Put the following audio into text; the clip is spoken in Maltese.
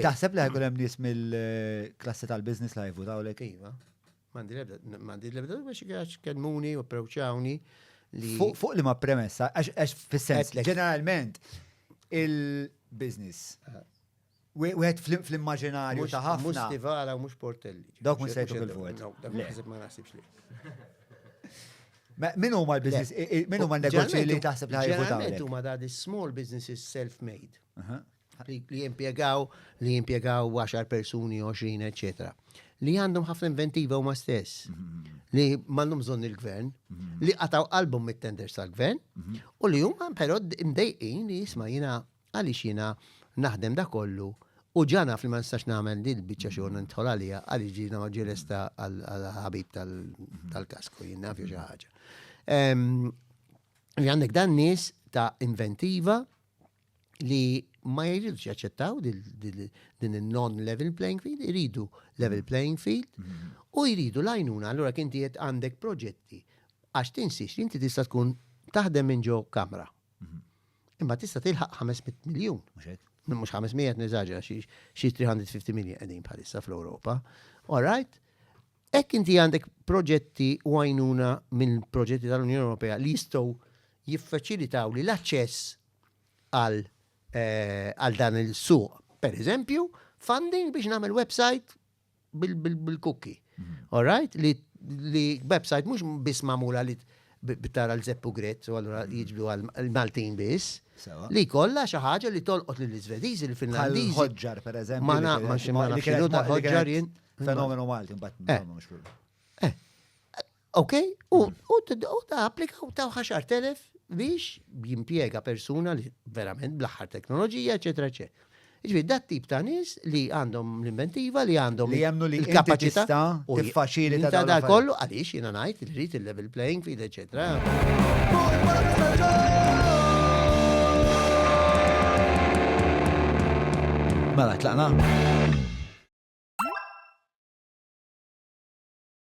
Taħseb li ħajkun hemm nies mill-klassi tal-business li ħajvu daw lek? Iva. Mandi lebda, mandi lebda, biex għax kelmuni u prewċawni li. Fuq li ma premessa, għax fil-sens, ġeneralment, il-business. Wieħed fl-immaġinarju ta' ħafna. Mux stivara u mux portelli. Dawk mux sejtu fil-vot. Ma nasibx li. Min huma l-business, min huma l-negozji li taħseb li ħajvotaw? Min huma da small businesses self-made. li jimpjegaw li jimpjegaw 10 persuni, 20, eċetera. Li għandhom ħafna inventiva huma stess. Mhm. Li m'għandhom bżonn il-gvern, mhm. li qataw qalbhom mit-tenders tal-gvern, mhm. u li huma però mdejqin li jisma' jiena għaliex jiena naħdem da kollu U ġana fil ma nistax namel li l-bicċa xorna nitħol għalija għalli ġina maġġelesta għal-ħabib tal-kasku jinna fi ħaġa. Li għandek dan nis ta' inventiva li ma jridux jaċċettaw din il-non level playing field, jridu level playing field mm-hmm. u jridu lajnuna allura kien qed għandek proġetti għax tinsiex li inti tista' tkun taħdem minn ġo kamra. Mm-hmm. Imma tista' tilħaq 500 miljun. Mhux 500 niżaġa xi 350 miljun qegħdin bħalissa fl-Ewropa. All right? Hekk inti għandek proġetti u għajnuna minn proġetti tal-Unjoni Ewropea li jistgħu jiffaċilitaw li l-aċċess għal eh, għal dan il-suq. Per eżempju, funding biex nagħmel website bil- bil- bil-cookie. All right? Li, li website mhux biss magħmula li t- bi- bi tara l-zeppu gret, u allura jiġbdu għal Maltin biss, Sewa. li kollha xi ħaġa li tolqot lill-Iżvediżi, Bħal lill-Finlandiżi. ħoġġar, per eżempju. Ma li na- kien- ma xi- ma li nafx kienet xinu ta' mo- li kienet- ħoġġar jien. Fenomenu Malti, mbatt, eh. mux fil. Eh. Ok, u mm. ta' applika u ta' ħaxar telef biex jimpiega persuna li verament bl-aħħar teknoloġija, eċetera, eċetera. Ġvi, dat tip ta' nis li għandhom l-inventiva, li għandhom li jemnu li kapacita u faċili ta' dal kollu għalix jina najt il-rit il-level playing field, etc. Mela, tlaqna?